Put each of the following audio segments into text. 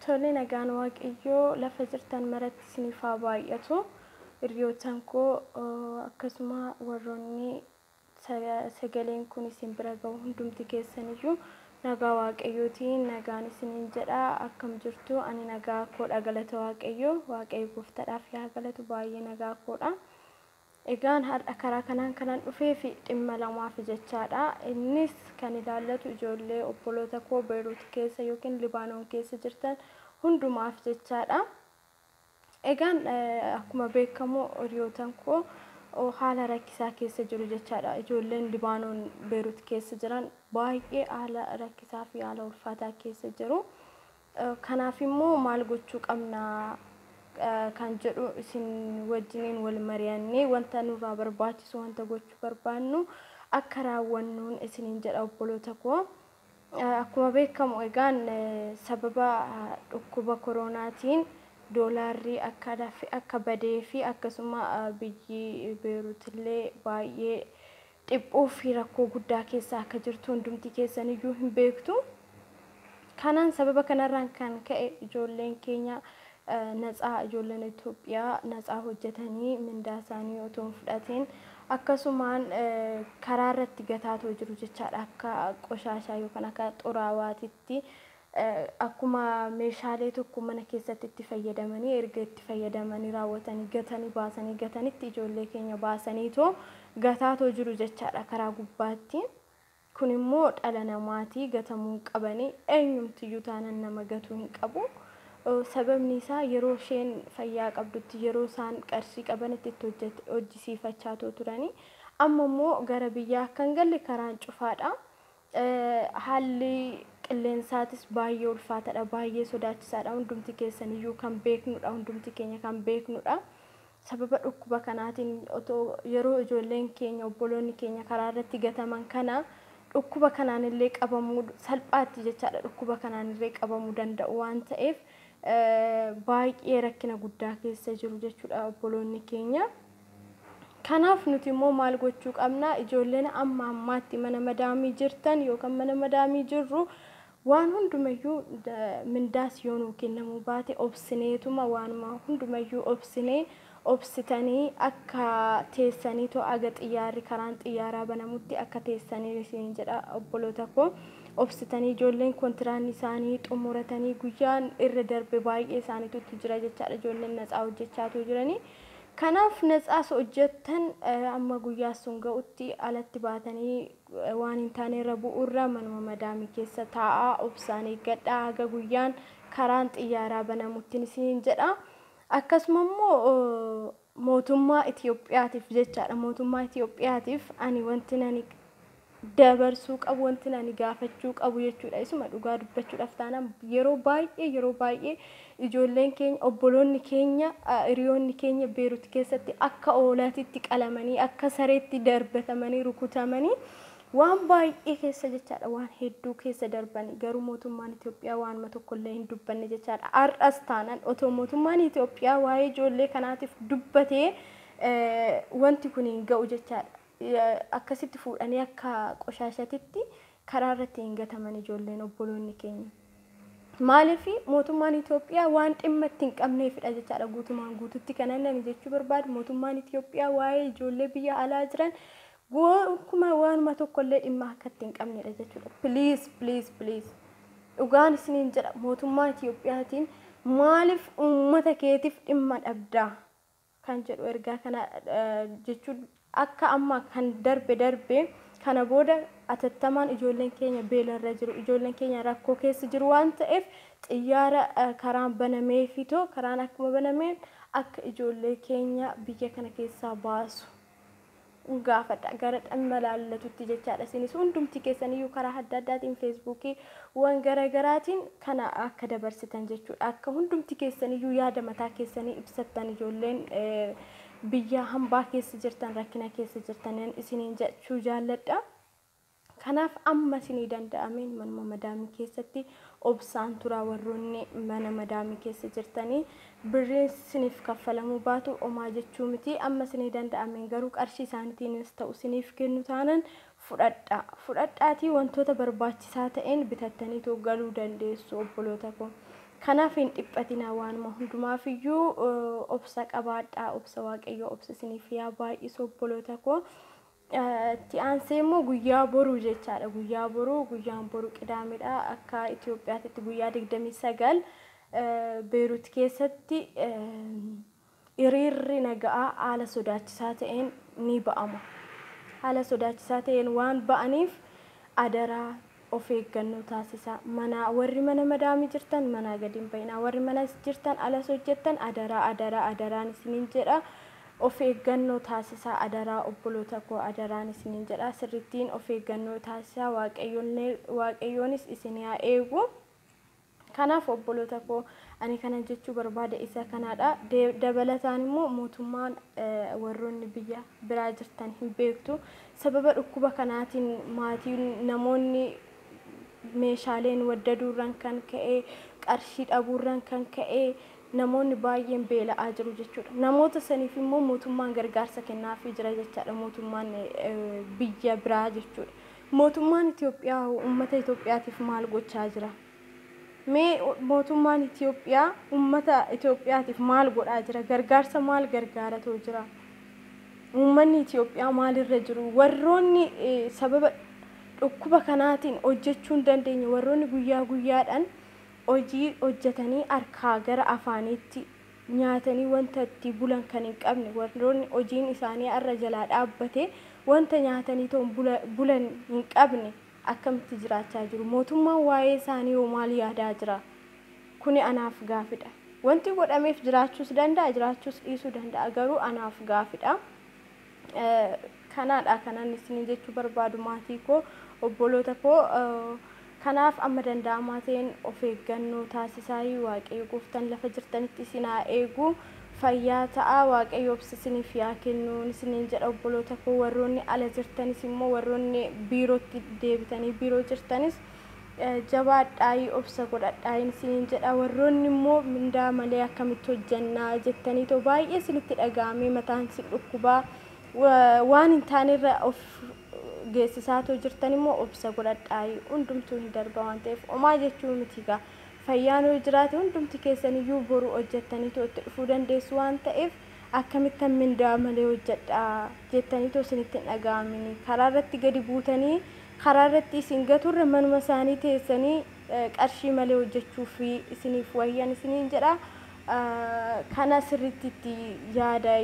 Tole nagaan waaqayyoo lafa jirtan maratti isiniif haa baay'atu. Hiriyootan koo akkasuma warroonni sagaleen kun isin bira gahu hundumti keessaniyyuu nagaa waaqayyootiin nagaan isiniin jedha akkam jirtu ani nagaa koodha galata waaqayyoo waaqayyo gooftaadhaaf yaa galatu baay'ee nagaa koodha. Egaan har'a karaa kanaan kanan dhufeef dhimma lamaaf jechaadha. Innis kan ilaallatu ijoollee obboloota koo Beeruut keessa yookiin Libaanoon keessa jirtan hundumaaf jechaadha. Egaan akkuma beekamu hiriyootan koo haala rakkisaa keessa jiru jechaadha. Ijoolleen Libaanoon Beeruut keessa jiran baay'ee haala rakkisaa fi haala ulfaataa keessa jiru. Kanaaf immoo maal gochuu qabna kan jedhu isin wajjiniin wal mari'annee wanta nurraa barbaachisu wanta gochuu barbaannu akka raawwannuun isiniin jedha obboloota koo. Akkuma beekamu egaan sababa dhukkuba koroonaatiin doolaarri akka dafe akka badee fi akkasuma biyyi Beeruutillee baay'ee dhiphuu fi rakkoo guddaa keessa akka jirtu hundumti keessan iyyuu hin beektu. Kanaan sababa kanarraan kan ka'e ijoolleen keenya natsaa ijoolleen Itoophiyaa natsaa hojjetanii mindaa isaanii otoo hin fudhatiin akkasumaan karaa irratti gataatoo jiru jechaadha akka qoshaashaa yookaan akka xuraawaatitti Akkuma meeshaalee tokko mana keessatti itti fayyadamanii erga itti fayyadamanii raawwatanii gatanii baasanii gatanitti ijoollee keenya baasaniitoo gataatoo jiru jechaadha karaa gubbaatti. Kun immoo dhala namaatii gatamuu hin qabani eenyumtiyyuu taanan nama gatuu hin qabu. Sababni isaa yeroo isheen fayyaa qabdutti yeroo isaan qarshii qabanitti itti hojjet- hojjisiifachaatoo turani. Amma immoo gara biyyaa akka hin galle karaan cufaadha. Haalli qilleensaatis baay'ee ulfaatadha, baay'ee sodaachisaadha. Hundumti keessaniyyuu kan beeknudha, hundumti keenya kan beeknudha. Sababa dhukkuba kanaatiin otoo yeroo ijoolleen keenya, obboloonni keenya karaa irratti gataman kana dhukkuba kanaan illee qabamuu salphaatti jechaadha dhukkuba kanaan illee qabamuu danda'u waan ta'eef baay'ee rakkina guddaa keessa jiru jechuudha obboloonni keenya. Kanaaf nuti immoo maal gochuu qabna? Ijoolleen amma ammaatti mana madaamii jirtan yookaan mana madaamii jirru waan hundumayyuu mindaas yoo nuu kennamuu baate obsineetuma waanuma hundumayyuu obsinee obsitanii akka teessanii too aga xiyyaarri karaan xiyyaaraa banamutti akka teessanii isiniin jedha obboloota koo obsitanii ijoolleen kontiraanni isaanii xumuratanii guyyaan irra darbe baay'ee isaaniitutti jira jechaadha ijoolleen natsaa hojjechaatuu jiranii Kanaaf natsaa osoo hojjettan amma guyyaa sun ga'utti alatti baatanii waan hin taane irra bu'uurra manuma madaamii keessa taa'aa obsaan eeggadhaa haga guyyaan karaan xiyyaaraa banamuttin isiniin jedha. Akkasuma immoo mootummaa Itiyoophiyaatiif jechaadha mootummaa Itiyoophiyaatiif ani wanti nani dabarsuu qabu wantin ani gaafachuu qabu jechuudha isuma dhugaa dubbachuudhaaf taanaan yeroo baay'ee yeroo baay'ee ijoolleen keenya obboloonni keenya hiriyoonni keenya beerut keessatti akka oolaatitti qalamanii akka sareetti darbatamanii rukutamanii waan baay'ee keessa jechaadha waan hedduu keessa darbanii garuu mootummaan Itoophiyaa waanuma tokkollee hin dubbanne jechaadha har'as taanaan otoo mootummaan Itoophiyaa waa'ee ijoollee kanaatiif dubbatee wanti kun hin ga'u jechaadha. Akkasitti fuudhanii akka qoshaashatitti karaa irratti hin gataman ijoolleen obboloonni keenya. Maaliif mootummaan Itoophiyaa waan dhimma itti hin qabneefidha jechaadha guutumaan guututti kanan ani jechuu barbaadu mootummaan Itoophiyaa waa'ee ijoollee biyya alaa jiran gonkumaa waanuma tokkollee dhimma akka itti hin qabnedha jechuudha. Please please please dhugaan isiniin jedha mootummaa Itoophiyaatiin maaliif uummata keetiif dhimma dhabdaa? kan jedhu ergaa kana jechuun akka amma kan darbe darbee kana booda atattamaan ijoolleen keenya beelarra jiru ijoolleen keenya rakkoo keessa jiru waan ta'eef xiyyaara karaan banameefitoo karaan akkuma banameen akka ijoollee keenya biyya kana keessaa baasu. gaafadha gara dhamma laallatutti jechaadha isinis hundumti keessan iyyuu karaa adda addaatiin feesbuukii wan gara garaatiin kana akka dabarsitan jechuudha akka hundumti keessan iyyuu yaada mataa keessanii ibsattan ijoolleen biyyaa hambaa keessa jirtan rakkina keessa jirtan isiniin jechuu jaalladha. Kanaaf amma isinii danda'ameen manuma madaamii keessatti obsaan turaa warroonni mana madaamii keessa jirtanii birriin isiniif kaffalamuu baatu omaa jechuu miti amma isinii danda'ameen garuu qarshii isaanitiinis ta'u isiniif kennu taanan fudhadha fudhadhaatii wantoota barbaachisaa ta'een bitattaniitoo galuu dandeessu obboloota koo kanaaf hin dhiphatinaa waanuma hundumaaf iyyuu obsa qabaadhaa obsa waaqayyoo obsa isiniif yaa baay'isu obboloota koo Itti aansee immoo guyyaa boruu jechaadha. Guyyaa boruu, guyyaan boru qidaamedha. Akka Itoophiyaatitti guyyaa 29 Beerut keessatti hiriirri naga'aa haala sodaachisaa ta'een ni ba'ama. Haala sodaachisaa ta'een waan ba'aniif adaraa Of eeggannoo taasisaa. Manaa warri mana madaami jirtan manaa gadi hin ba'inaa. Warri manas jirtan alas hojjettan adaraa adaraa adaraan isinin jedha of eeggannoo taasisaa adaraa obboloota koo adaraan isinin jedha sirrittiin of eeggannoo taasisaa waaqayyoonis isin haa eegu. Kanaaf obboloota koo, ani kanan jechuu barbaade isa kanaa dha. Dabalataan immoo mootummaan warroonni biyya biraa jirtan hin beektu. Sababa dhukkuba kanaatiin maatiin namoonni meeshaaleen waddaduurran kan ka'e, qarshii dhabuurran kan ka'e namoonni baay'een beela'aa jiru jechuudha. Namoota saniif immoo mootummaan gargaarsa kennaafii jira jechaadha mootummaan biyya biraa jechuudha. Mootummaan Itoophiyaa hoo ummata Itoophiyaatiif maal gochaa jira? Mee mootummaan Itoophiyaa ummata Itoophiyaatiif maal godhaa jira? Gargaarsa maal gargaaratoo jira? Ummanni Itoophiyaa maalirra jiru? Warroonni sababa dhukkuba kanaatiin hojjechuu hin dandeenye, warroonni guyyaa guyyaadhaan hojii hojjetanii harkaa gara afaaniitti nyaatanii wanta itti bulan kan hin qabne, warroonni hojiin isaanii har'a jalaa dhaabbate, wanta nyaataniitoon bulan hin qabne akkamitti jiraachaa jiru? Mootummaan waa'ee isaaniihoo maal yaadaa jira? Kuni anaaf gaafidha. Wanti godhameef jiraachuus danda'a, jiraachuus dhiisuu danda'a, garuu anaaf gaafidha. Kanaadha kan ani isiniin jechuu barbaadu maatii koo, obboloota koo. Kanaaf amma danda'amaa ta'een of eeggannoo taasisaayii Waaqayyo gooftaan lafa jirtanitti isin haa eegu. Fayyaa ta'aa Waaqayyo obsa isiniif yaa kennu isiniin jedha obboloota koo. Warroonni ala jirtanis immoo warroonni biirootti deebitanii biiroo jirtanis Jabaadhaayi obsa godhadhaayin isiniin jedha. Warroonni immoo mindaa malee akkamitti hojjanna jettaniitoo baay'ee isinitti dhaga'amee mataan isin dhukkubaa waan hin taanerra of geessisaatoo jirtan immoo obsa godhadhaayi. Hundumtuu hin darba waan ta'eef omaa jechuu miti gaa. Fayyaan yoo jiraate hundumti keessaniyyuu boru hojjattaniitoo itti dhufuu dandeessu waan ta'eef Akkamittan mindaa malee hojjadha? jettanii otoo isinitti hin dhaga'aminii, karaa irratti gadi buutanii karaa irratti isin gatu irra manuma isaanii teessanii qarshii malee hojjachuuf isiniif wayya ani isiniin jedha. Kana sirriitti itti yaada,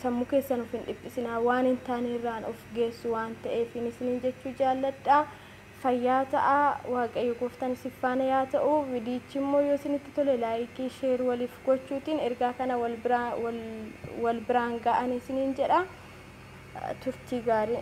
sammuu keessan of hin dhiphisinaa, waan hin taane irraan of geessu waan ta'eef isiniin jechuu jaalladha. fayyaa ta'aa waaqayyo gooftan sif faana yaa ta'u vidiyichi immoo yoo sinitti tole laayikii sheer walif gochuutiin ergaa kana wal biraan wal wal biraan ga'ani sinin jedha turtii gaarii.